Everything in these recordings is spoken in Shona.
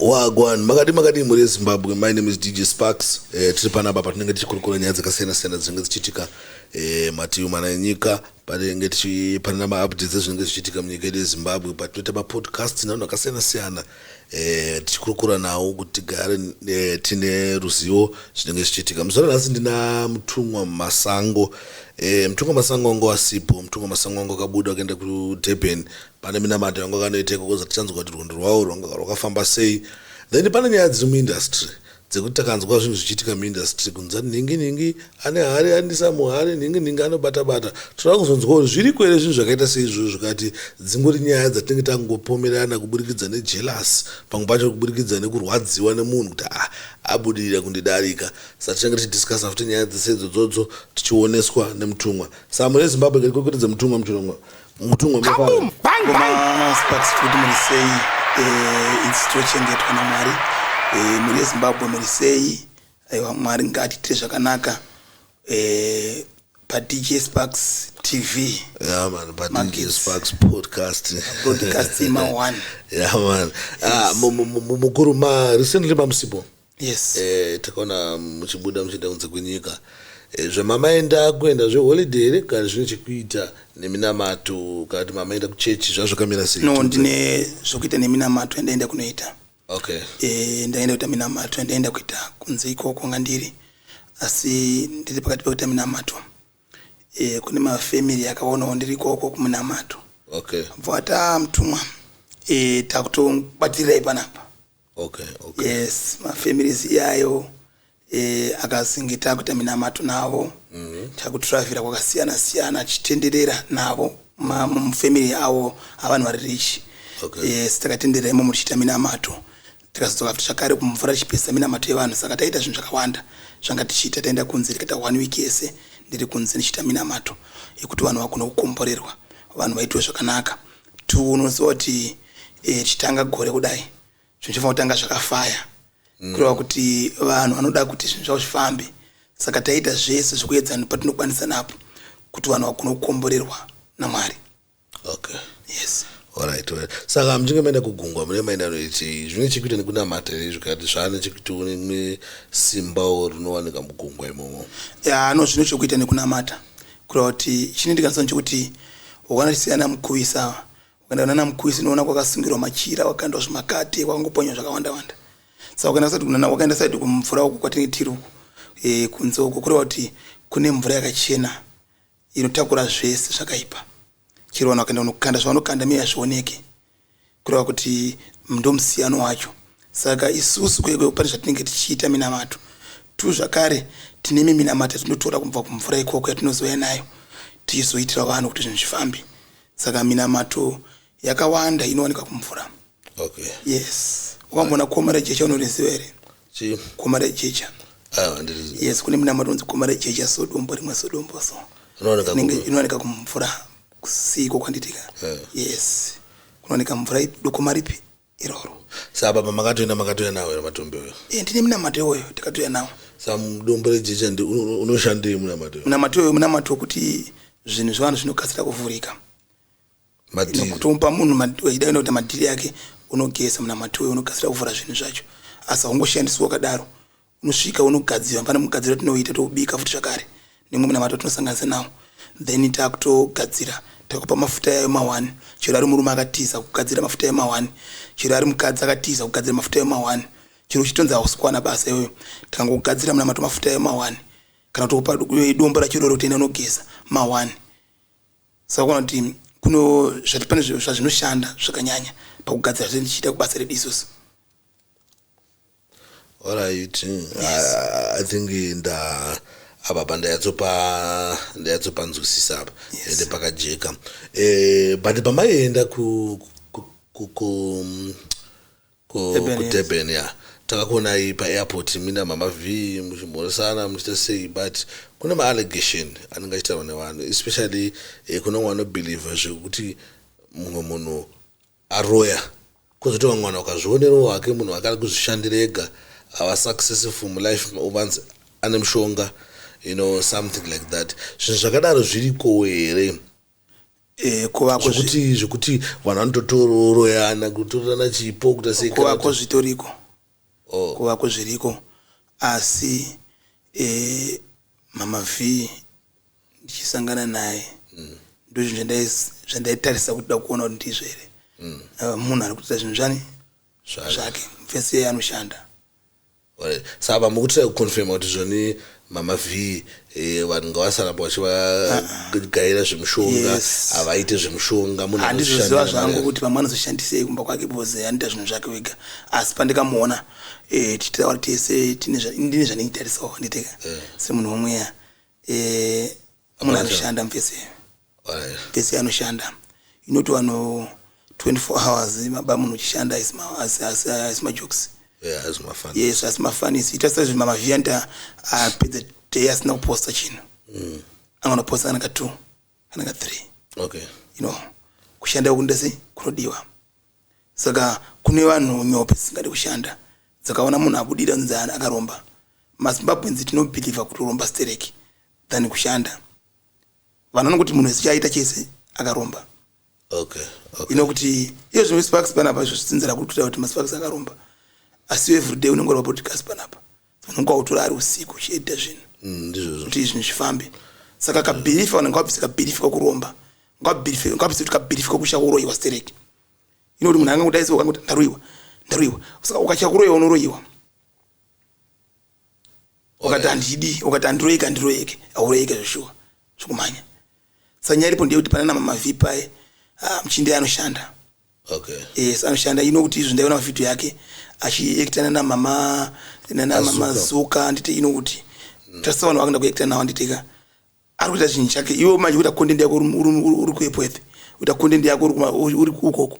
Wagwan makadii makadii mhuri yezimbabwe my name is dj sparks eh, tiri panapa patinenge tichikurukura nyaya dzakasiyana siyana dzinenge dzichiitika eh, mativi mana enyika patinenge tichipanana maupdates ezvinenge zvichiitika munyika yedu yezimbabwe patinoita mapodcast navanhu vakasiyana siyana eh, tichikurukura nawo kuti tigare eh, tine ruzivo zvinenge zvichiitika muzora nhasi ndina mutumwa masango eh, mutumwa masango wangu asipo mutumwa masango wangu akabuda akaenda kudurban Pane minamato yanga kanoiteko koza tichanzwa kuti rwendo rwawo rwanga rwakafamba sei then pane nyaya dziri muindustry dzekuti takanzwa zvinhu zvichiitika muindustry kunzati nhingi nhingi ane hari andisa muhari nhingi nhingi anobata bata tinoda kuzonzwa kuti zviriko here zvinhu zvakaita seizvozvo zvikati dzingori nyaya dzatinenge tangopomerana kuburikidza nejealous pamwe pacho kuburikidza nekurwadziwa nemunhu kuti ah abudirira kundidarika saka tichange tichidiscussa futi nyaya dzese idzodzodzo tichioneswa nemutumwa samune zimbabwe kerikokwetedze mutumwa muchirongwa Mutungwe Kaboom! Bang, Koma bang! Sparks kuti muri sei eh, it's tochengetwa naMwari eh, mhuri yeZimbabwe muri sei aiwa Mwari ngaatiitire zvakanaka eh, paDJ Sparks TV Yeah, man, but Magis. DJ Sparks podcast. broadcast ima one Yeah, man. Ah, mu- mu- mu- mukuru ma recently mamusipo. yes eh, takaona muchibuda muchienda kunze kwenyika eh, zvemamaenda kuenda zveholiday here kana zvine chekuita neminamato kana kuti mamaenda kuchechi zvazvo kamira sei no ndine zvokuita neminamato yandaenda kunoita okay eh, ndaenda kuita minamato yandaenda kuita kunze ikoko ngandiri asi ndiri pakati pekuita minamato eh, kune mafamily akaonawo ndiri ikoko kuminamato okay bvata mutumwa eh, takutobatirai panapa okay, okay. yes mafamilies iyayo e, akazinge takuita minamato navo mm -hmm. takutravhira kwakasiyana siyana achitenderera navo mufamily avo avanhu vari rich okay. yes takatenderera imomo tichiita minamato tikazodzoka futi zvakare kumvura tichipesa minamato yevanhu saka taita zvinhu zvakawanda zvanga tichiita taenda kunze tikaita one week yese ndiri kunze ndichiita minamato yekuti vanhu vagona kukomborerwa vanhu vaitiwe zvakanaka to unoziva kuti eh, chitanga gore kudai zvinhu zvofanira kutanga zvakafaya mm. kureva kuti vanhu vanoda kuti zvinhu zvavo zvifambe saka taita zvese zvekuedza patinokwanisa napo kuti vanhu vagona kukomborerwa namwari okay yes Alright, alright. saka muchinge maenda kugungwa mune maenda noiti zvine chekuita nekunamata here zvikati zvaane chekuti unemwe simbawo rinowanika mugungwa imomo ya no zvine chekuita nekunamata Kureva kuti chini ndikanzwa nchekuti wakana chisiya na mukuvisa wakaenda kunana mukuvisa unoona kwakasungirwa machira wakandwa zvimakate kwakangoponywa zvakawanda wanda saka wakaenda kusati kunana wakaenda sati kumvura uku kwatinge tiri uku e, kunze uku kureva kuti kune mvura yakachena inotakura zvese zvakaipa chero vanhu wakaenda kunokanda zvavanokanda miya hazvioneke kureva kuti ndomusiyano wacho saka isusu kwekwe pane zvatinenge tichiita minamato tu zvakare tine miminamato yatinotora kubva kumvura ikoko yatinozouya nayo tichizoitira vanhu kuti zvinhu zvifambe saka minamato yakawanda inowanika kumvura okay. yes ukamboona koma rejecha unoriziva here koma rejecha ah, yes kune minamato unzi koma rejecha sodombo rimwe sodombo so inowanika kumvura Kusiiko kwanditika? Eh. Yes. Kunooneka mvura ipi? Dokoma ripi? Iroro. Saka baba makatoenda makatoya nawo here matombi oyo? Eh, ndine munamato iwoyo tikatoya nawo. Saka mudombo rejecha ndi uno- uno- unoshandei munamato oyo? Munamato iwoyo munamato wekuti zvinhu zvevanhu zvinokasira kuvhurika. Madhiri. Kutomupa munhu mad- wechida kuenda kuita madhiri yake unogeza munamato uyo unokasira kuvhura zvinhu zvacho. Asi haungoshandiswi wakadaro. unosvika unogadziwa pane mugadziro tinoita toubika futi zvakare nemwe munamato tinosanganisa nawo then takutogadzira takupa mafuta yayo mawani chero ari murume akatiza kugadzira mafuta yayo mawani chero ari mukadzi akatiza kugadzira mafuta yayo mawani chero uchitonzi hausikwana basa iyoyo tikangokugadzira munamato mafuta yayo mawani kana tokupa dombo rachiroro kutenda unogeza mawani saka kuona kuti kuno zvati pane zvazvinoshanda zvakanyanya pakugadzira zve ndichiita kubasa redu isusu Alright. Yes. I, I think nda apa pa ndayatsopa ndayatsopa nzwisisa apa. Yes. Ende pakajeka. Eh but pamaienda ku ku ku ku ku Durban ya. Takakuona iyi pa airport mina mama V muchimhoresana muchita sei but kune ma allegation anenge achitaurwa nevanhu especially eh, kune wano believe zvekuti mumwe munhu aroya kozoti vamwe vanhu vakazvionerawo hake munhu wake ari kuzvishandira ega ava successful mulife uvanzi ane mushonga you know something like that zvinhu zvakadaro zvirikowo here Eh, kuvako zvekuti zvekuti vanhu vanototororoyana kutorana chipo kuita sei kuvako zvitoriko oh. kuvako zviriko asi e, mama v ndichisangana naye mm. ndozvinhu zvandaitarisa kuti da kuona kuti ndizvo here mm. uh, munhu ari kutoita zvinhu zvani zvake mfesi yeye anoshanda saka mukutira kuconfirma kuti zvoni mama v eh, vanhu ngavasaramba vachivagaira zvemushonga havaite zvemushonga munhandizoziva zvangu kuti vamwe anozoshandisei kumba kwake bcoz anoita zvinhu zvake wega asi pandikamuona eh, tichitaura tese ndine zvandinitarisawo handiteka eh. semunhu womweya eh, amuna anoshanda mfese mfese anoshanda inoti wano 24 hours maba munhu uchishanda asimajokes yes asimafanisi ita sezve mamavianta apedza day asina kuposta chinhu mm. anganoposta kana ka two kana ka three okay. you know kushanda kundese kunodiwa Saka kune vanhu nyope dzisingade kushanda dzakaona munhu abudira dzonzi an akaromba. MaZimbabweans tino believer kuti kuromba stereki than kushanda. Vanhu vanongo kuti munhu wese chaaita chese akaromba. Okay, okay. Ino kuti iyo zvimwe sparks panapa izvo zvisinzira kuti kutaura kuti maSparks akaromba. Asi everyday unenge uri paPodcast panapa. Vanenge vautora ari usiku uchiedita zvinhu mm, ndizvozvo kuti zvinhu zvifambe saka kabhirifi vanenge vabvisa kabhirifi kakuromba ngabhirifi ngabvisa kuti kabhirifi kakusha kuroyiwa stereki ino kuti munhu ange kudaidzwa ukange kuti ndaroyiwa ndaroyiwa saka ukatya kuroyiwa unoroyiwa ukati handidi ukati handiroyeke handiroyeke auroyeke zveshuwa zvokumhanya sanyaya iripo ndeyekuti panana mamavipaye ah, muchindi anoshanda Okay. Yes, anoshanda you know kuti izvi ndaiona video yake achiactana na mama nana mama Azuka. zuka anditi you know kuti tasa vanhu vakanda kuacta nawo anditi ka ari kuita chinhu chake iwe manje kuita content yako uri- uri uri- uri kuepweth kuita content yako uri kuma- uri uri ukoko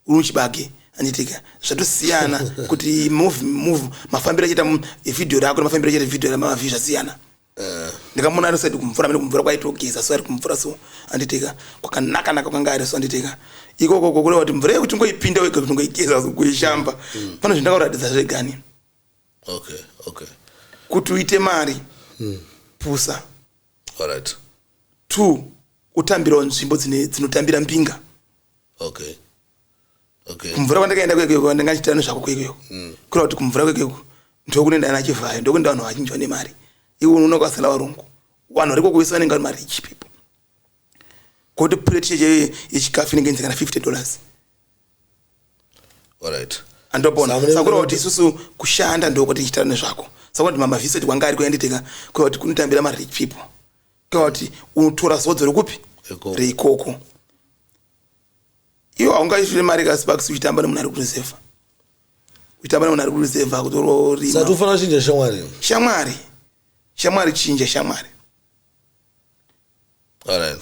uri muchibage anditi ka zvatosiyana kuti move move mafambiro achaita mu- video rako nemafambiro achaita video ramama view zvasiyana Eh. ndikamuona ari so ati kumvura mene kumvura kwaitogeza so ari kumvura so anditika kwakanaka naka kwanga ari so anditika ikoko kokureva kuti mvura yekuti ngoipinda wega kuti ngoigeza so kuishamba mm. pane zvinhu ndakaratidza zvegani okay okay kuti uite mari mm. pusa alright two utambirawo nzvimbo dzinotambira mbinga okay okay. kumvura kwandakaenda kwekeko ndanga ndichita nezvako kwekeko mm. kura kuti kumvura kwekeko ndokunenda ana chivhayo ndokunenda vanhu vazhinji vane mari iwe unoona kwasala varungu vanhu variko kuvese vanenge vari marich people koti plate cheche yechikafu inenge inzi kana 50 dollars alright andopona sakura kuti isusu kushanda ndokuti ndichitara nezvako sakura kuti mamaviseti kwanga ari kuyanditeka kura kuti kunotambira marich people kura kuti unotora zodzo rekupi reikoko iwe haungaisvire mari ka sparks uchitamba nemunhu ari kureserva uchitamba nemunhu ari kureserva kutororima sati ufanira kuchinja shamwari shamwari shamwari chinja shamwari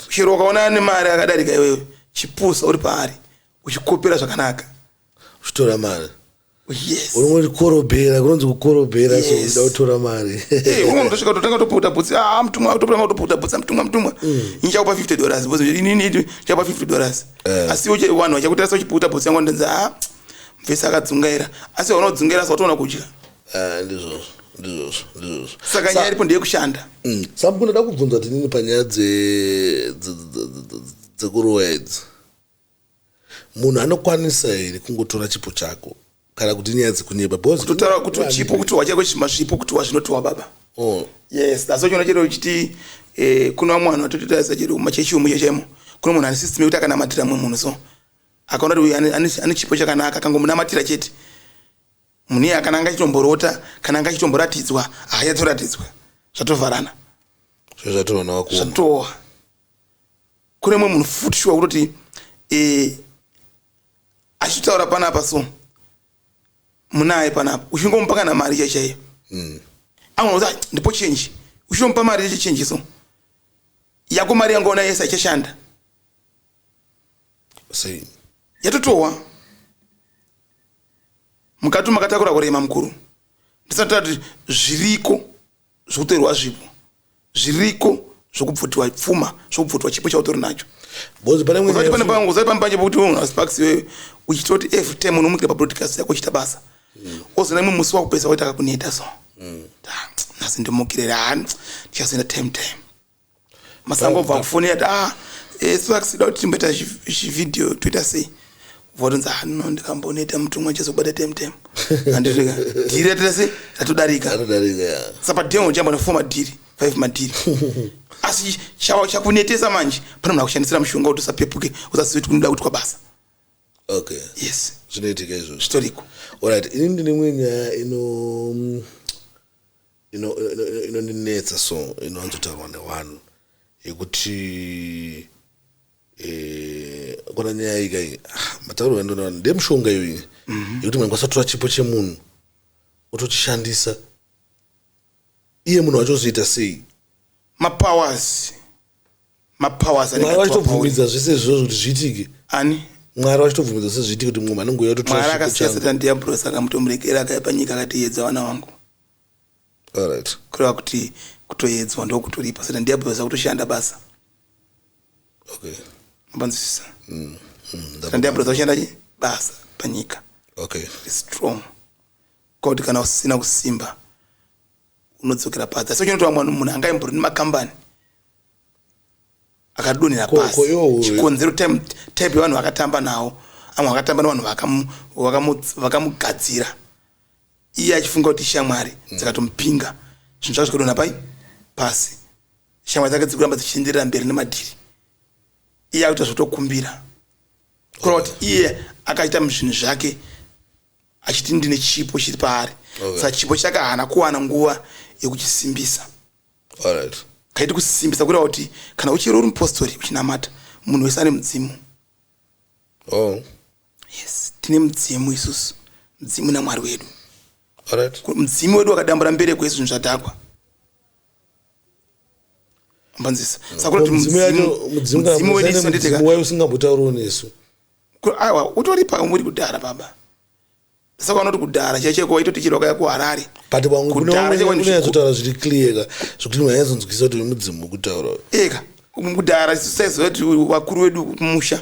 chero ukaonana nemari akadarika iwewe chipusa uri paari uchikopera zvakanaka uchitora mari unongonzi korobhera kunonzi kukorobhera so uda kutora mari ndosvika totanga toputa bhutsi ah mutumwa totanga toputa bhutsi mutumwa mutumwa mm. ndichakupa 50 dollars because inini ndichakupa 50 dollars eh. asi vanhu vachakutarisa uchiputa bhutsi yangu ndinzi ah mvese akadzungaira asi vaona kudzungaira asi watoona kudya eh, ndizvozvo ndizvozvo ndizvozvo saka nyaya iripo ndeyekushanda mm. sam kunoda kubvunza tinini panyaya dzekuroya idzi munhu anokwanisa here kungotora chipo chako kana kuti nyaya dzekunyepa bcauseotaura kuti chipo kuti wachako chimasvipo kuti wazvinotiwa baba oh. yes dasochiona chero chiti eh, kune vamwe vanhu vatototaisa chero machechi omuche chaimo kune munhu ane system yekuti akanamatira mumwe munhu so akaona kuti uyu ane chipo chakanaka akangomunamatira chete munhu iye kana anga achitomborota kana anga achitomboratidzwa haayatsoratidzwa zvatovharana zvatooa kune mumwe munhu futi shuwa kutoti um eh, achitaura panapa so munaye panapa uchingomupa kana mari chai chaiyo hmm. amwe kuti ah, ndipo chenji uchinomupa mari yeche chenji so yako mari yangaona yese haichashanda yatotowa mukati makatakura kurema mukuru ndisati tati zviriko zvokutorerwa zvipo zviriko zvokubvutiwa pfuma zvokubvutiwa chipo chautori nacho bcause pane mwe pane pangu usati pane panje pokuti wemunhu asparks iweyo uchitoti every time unomuitira pabroadcast yako uchita basa mm. ozona imwe musi wakupesa waitaka kuneta so mm. nhasi ndimukirere hani ndichazoenda time time masango obva kufoni yati ah eh, svaksida kuti timboita chivhidhiyo toita sei votonzi hano ah, ndikambonoita mutumwa chizobata temtem andisvika dhiri ratira sei ratodarika saka pademo chamba nafoma dhiri five madhiri asi chakunetesa manje pane munhu akushandisira mushonga kuti usapepuke usazive kuti kunoda kuti kwabasa okay yes zvinoitika izvozvo zvitoriko orit ini ndine imwe nyaya ino mm, inondinetsa so inowanzotaurwa newanhu yekuti eh, kona nyaya yika iyi ah, matauriro andona vanhu ndemushonga iyo iyi mhm. yekuti mwana kwasatora chipo chemunhu otochishandisa iye munhu wachozoita sei mapowers mapowers mwari vachitobvumidza zvese izvozvo kuti zviitike ani mwari vachitobvumidza zvese zviitike kuti mumwe anenge uya kutomwari akasiya satani diabros akamutomuregera akaipa nyika akatiyedza vana vangu alright kureva kuti kutoyedzwa ndokuturipa satani diabros akutoshanda basa okay mapanzwisisa mm, mm, satani diabros akushanda chi basa panyika okay strong koti kana usina kusimba unodzokera pasi asi uchinotaura mwana munhu anga imbori nemakambani akadonhera pasi chikonzero type yevanhu vakatamba nawo amwe vakatamba nevanhu vakamugadzira iye achifunga kuti shamwari mm. dzikatomupinga zvinhu zvake zvikadonha pai pasi shamwari dzake dzikuramba dzichienderera mberi nemadhiri iye akuita zvotokumbira kureva kuti iye akaita zvinhu zvake achiti ndine chipo chiri paari okay. saka chipo chake haana kuwana nguva yekuchisimbisa right. kaiti kusimbisa kureva kuti kana uchiri uri mupostori uchinamata munhu wese ane mudzimu oh. yes tine mudzimu isusu mudzimu namwari wedu right. mudzimu wedu wakadambura mbere kwesu zvinhu zvadhakwa mbanzisa sakuti mudzimu wedu isu nditeka usingambotauriwo nesu aiwa utoripa umuri kudhara baba saka vanoti kudhara chaiye cheko waitoti chero wakaya kuharare but vanguunozotaura zviri clear ka zvekuti vanyazonzwisa kuti mudzimu kutaura eka kudhara saiziva kuti vakuru vedu kumusha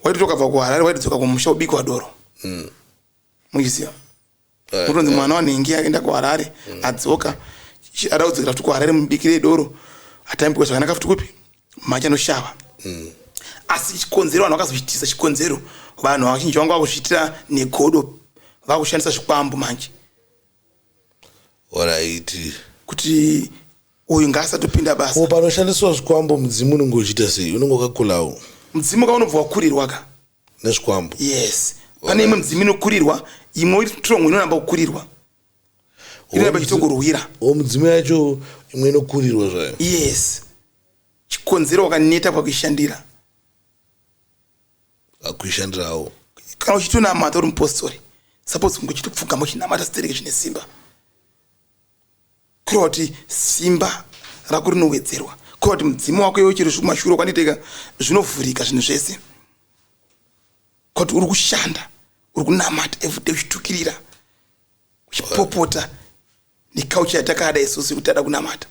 waitoti wakabva kuharare waitodzoka kumusha ubikwa doro mm. muchiziva eh, kutonzi eh. mwana wanhingi aenda kuharare mm. adzoka ada kudzokera futi kuharare mubikire doro atambikwa zvakanaka futi kupi macha anoshava mm. asi chikonzero vanhu vakazozvitisa chikonzero vanhu vazhinji vanga vakuzviitira negodo vakushandisa zvikwambo manje oraiti kuti uyu ngaasatopinda basa o panoshandiswa zvikwambo mudzimu unenge uchiita sei unenge wakakulawo mudzimu ka unobva wakurirwa ka nezvikwambo yes pane imwe midzimu inokurirwa imwe iri strong inoramba kukurirwa inoramba ichitokurwira o midzimu yacho imwe inokurirwa zvayo yes chikonzero wakaneta pakuishandira akuishandirawo kana uchitonamata uri mupostori suppose kunge uchitopfugama uchinamata stereke zvine simba kureva kuti simba rako rinowedzerwa kureva kuti mudzimu wako iwe chero zvikumashure kwaniteka zvinovhurika zvinhu zvese kuti uri kushanda uri kunamata everyday uchitukirira uchipopota nekaucha yatakada isusu yekutada kunamata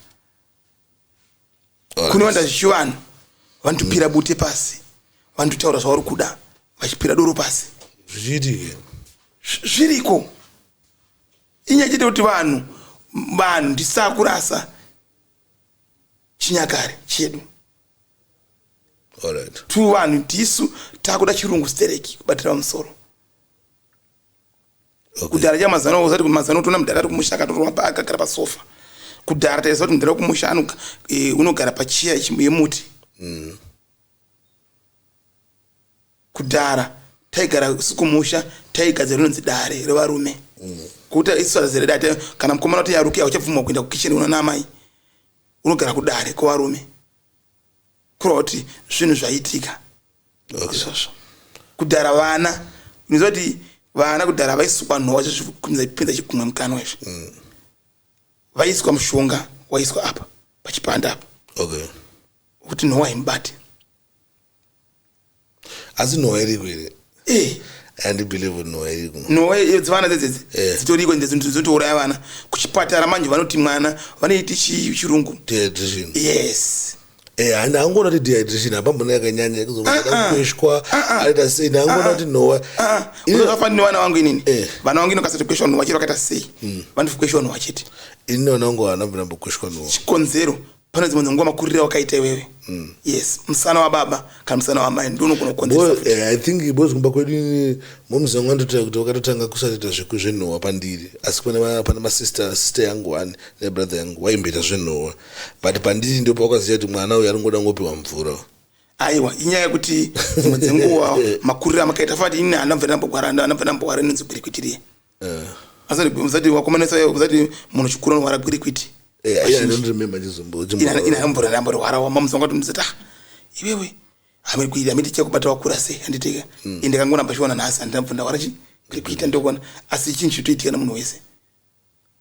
kunowanda zvichivanhu vanotopira bute pasi vanototaura zvavari kuda vachipira doro pasi zvichiitike zviriko inyaya chete kuti vanhu vanhu ndisakurasa chinyakare chedu tiri vanhu tisu takuda chirungu stereki kubatira musoro kudhara cha mazano usati kuti mazano tona mudhara kumusha akatorwa pa akagara pa sofa kudhara taisa kuti mudhara kumusha ano e, unogara pa chair yemuti mm. kudhara taigara sikumusha taigadzira rinonzi dare revarume mm. kuta isara zere date kana mukomana kuti yaruke auchabvuma kuenda ku kitchen unana amai unogara kudare kwevarume kureva kuti zvinhu zvaitika izvozvo kudhara vana unoziva kuti vana kudhara vaisukwa nhova zvezvipinza chikumwe mukanwa izvi mm. vaiswa mushonga waiswa apa pachipanda apa kuti nhova imubate asi nhowa iriko here eh. andibelieve nhowa iriko nhowa dzevana dzedzedze eh. dzitoriko ende zvinhu zvotouraya vana kuchipatara manje vanoti mwana vanoiti chirungu dehydration yes eh, handi angoona kuti dehydration hapambona yakanyanya kuzokweshwa ah, ah. ah, aita sei ndangoona kuti nhowa unozofanira nevana vangu inini eh. vana vangu inokasati kweshwa nhowa chete vakaita sei hmm. vanofi kweshwa nhowa chete ini nonango hana mbinambokweshwa nhowa chikonzero pane dzimwe dzenguva makurire wakaita iwewe mm. yes musana wababa kana musana wamai ndonogona kukonzeresa eh, i think bos kumba kwedu ini moms vangu vandotaura kuti vakatotanga kusatoita zveku zvenhowa pandiri asi pane masister sister yangu ani nebrother yangu waimboita zvenhowa but pandiri ndipo wakaziva kuti mwana uyu aringoda ngopiwa mvura aiwa inyaya yekuti dzimwe dzenguva makurire amakaita fati ini handambvera ndambogwara ndambvera ndambogwara inonzi gwirikwitirie Eh. Asati usati wakomana sai usati munhu chikuru anorwara kwiri kwiti. Eh, yeah, I don't remember chizombo. Ina ina hambura hambura rwara wa mamu songa tumzita. Ah, iwewe. Amiri kuita amiri ticha kubata wakura sei handiteka. Mm. Ende kangona pashiwana nhasi handina mfunda warachi. Kwiri kwita ndokona. Asi chinhu chitoitika na munhu wese.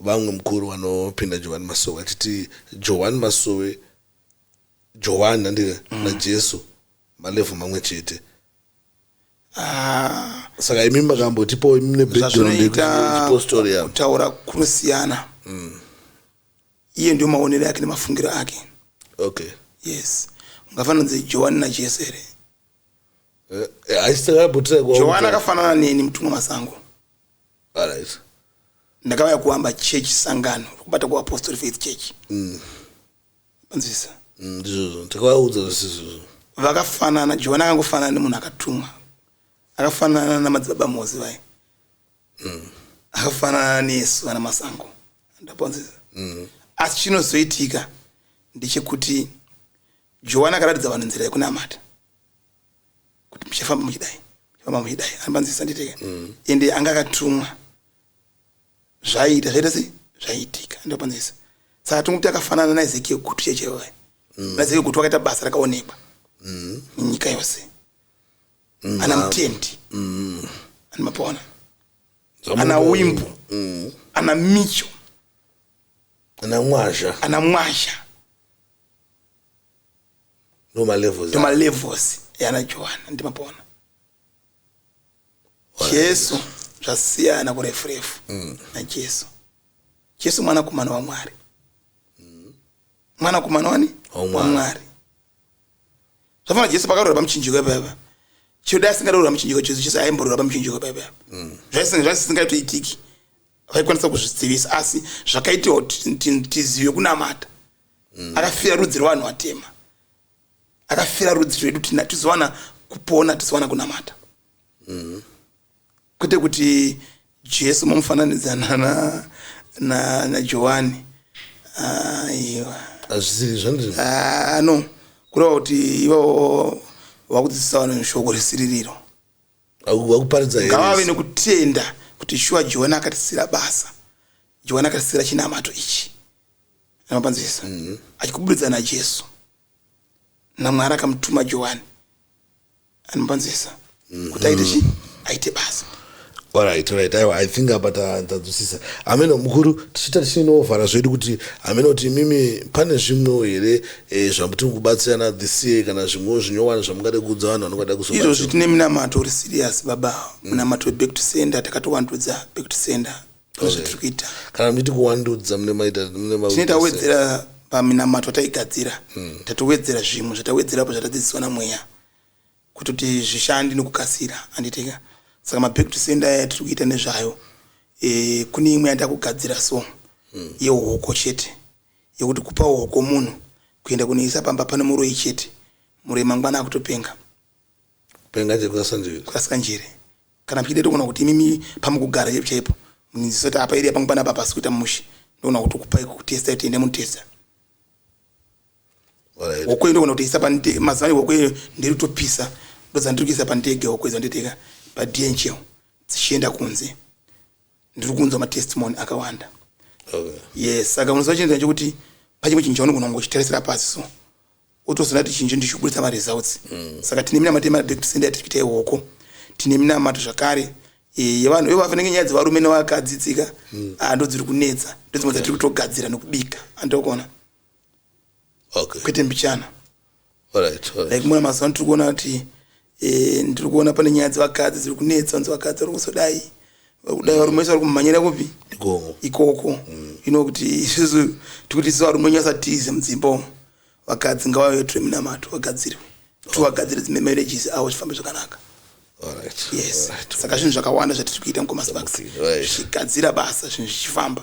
Vamwe mukuru vanopinda Johwani Masowe vachiti Johwani Masowe, Johwani handika, mm. naJesu malevhu mamwe chete. Ah. Saka imi makambotipo imi nebackground yekuchipostori yavo. Kutaura kunosiyana. Mm. Iye ndio maonero yake nemafungiro ake. Okay. Yes. Ungafananidze Johwani naJesu here? Eh, eh, Johwani akafanana neni mutumwa masango. Alright. ndakauya kuamba church sangano rokubata kuapostle faith church panzwisa Mm, Ndizvozvo. Ndakawaudza zvese izvozvo. vakafanana johani akangofanana nemunhu akatumwa akafanana namadzibaba mozi vaye akafanana nesu vana masango ndaponzisa asi chinozoitika ndechekuti johani akaratidza vanhu nzira yekunamata kuti muchafamba muchidai muchafamba muchidai anobanzisa nditeke mm. ende anga akatumwa zvaiita zvaita sei zvaiitika ndobanzisa saka tingokuti akafanana naezekiel gutu chechewa mm. naezekiel gutu akaita basa rakaonekwa mm. nyika yose mm. ana mutendi mm. ani mapona ana wimbo mm. ana micho ana mwazha ana mwazha ndomalevels yana johana ndimapona jesu zvasiyana kurefu refu mm. najesu jesu mwanakomana wamwari mm. mwanakomana wani wamwari zvafana jesu pakarora pamuchinjiko ipaipa chioda asingarora pamuchinjiko jesu jesu aimborora pamuchinjiko ipaipa mm. zvaisingaitoitiki vaikwanisa kuzvizivisa asi zvakaitiwa tizive kunamata mm. akafira rudzi rwevanhu vatema akafira rudzi rwedu tizowana kupona tizowana kunamata mm. kwete kuti jesu momufananidzana najohani ah, aiwa hazvisiri zvandiri ah, no kureva kuti ivavo vakudzidzisa vanhu shoko resiririro vakuparidza ngavave nekutenda kuti shuwa johani akatisira basa johani akatisira chinamato ichi anopanzisa mm. achikuburitsa najesu namwari akamutuma johani anopanzisa mm. Mm-hmm. kuti aite chii aite basa Alright, alright. Aiwa, I think apa tadzwisisa. Ameno mukuru tichita tichinovhara zvedu kuti ameno kuti mimi pane zvimwewo here eh, zvamutiri kubatsirana this year kana zvimwewo zvinyowani zvamungade kuudza vanhu vanongada kuzo izvozvi tine minamato uri serious baba mm. munamato weback to sender takatowandudza back to sender ndozvatiri kuita kana muchiti kuwandudza mune maita mune ma tine tawedzera paminamato taigadzira hmm. tatowedzera zvimwe zvatawedzerapo zvatadzidziswa namweya kuti kuti zvishandi nokukasira anditika saka maback to senda aya tiri kuita nezvayo e, kune imwe yanda kugadzira so mm. yehoko chete yekuti kupa hoko munhu kuenda kunoisa pamba pane muroyi chete muroyi mangwana akutopenga Kupenga chiri kwasanjere. Kwasanjere. Kana muchida tokuona kuti imimi pamukugara chaipo chaipo munziso kuti apa area pangu panapa pasi kuita mushe ndoona kuti kupai kutesta tiende munotesta hokwe ndoona kuti isa panite mazuva ne hokwe ndiri kutopisa ndodza ndiri kuisa pandege hokwe dzanditeka padnhl dzichienda kunze ndiri kunzwa matestimony akawanda okay. yes saka unoziva chinhu chekuti pachimwe chinhu chaunogona kungochitarisira pasi so otozona kuti chinjo ndichikubudisa maresults mm. saka tine minamato yemadekusenda yatiri kuita iwoko tine minamato zvakare eh, yevanhu ivo vafanenge nyaya dzevarume nevakadzi tsika mm. ah, ndo dziri kunetsa ndodzimwe dzatiri kutogadzira nekubika andokuona okay. kwete mbichana like muna mazuva tiri kuona kuti e, ndiri kuona pane nyaya dzevakadzi dziri kunetsa vanzi vakadzi vari kusodai vakudai varume vese vari kumhanyira kupi ikoko mm. ino kuti isusu tikuti isusu varume nyasa tize mudzimba umo vakadzi ngavave tore minamato vagadzirwe tovagadzire dzimbe marriages avo chifambe zvakanaka yes saka zvinhu zvakawanda zvatiri kuita mukomasibaks zvichigadzira basa zvinhu zvichifamba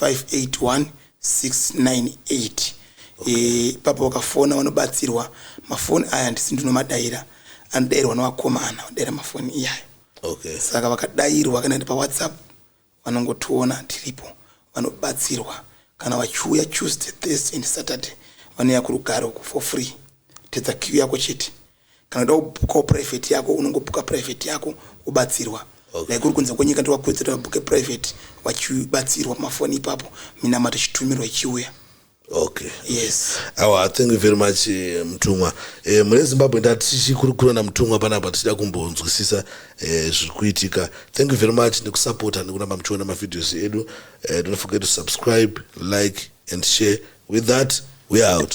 581698 eh, ipapo vakafona vanobatsirwa mafoni aya handisi ndinomadaira anodairwa nevakomana vadaira mafoni iyayo okay. saka vakadairwa kana ndi pawhatsapp vanongotiona tiripo vanobatsirwa kana vachiuya tuesday thursday and saturday vanouya kurugare uku for free tedza kiu yako chete Kana uchida kubhukawo private yako unongobhuka private yako wobatsirwa. Okay. Like uri kunze kwenyika ndowakuwedzera wabhuke private wachibatsirwa pamafoni ipapo minamato ichitumirwa ichiuya. Okay. Yes. Awa, thank you very much eh, Mtumwa. Eh, mune Zimbabwe ndatichikurukura naMtumwa panapa tichida kumbonzwisisa eh, zviri kuitika. Thank you very much nekusupporta nekuramba muchiona mavideos edu. Eh, don't forget to subscribe, like and share. With that, we are out.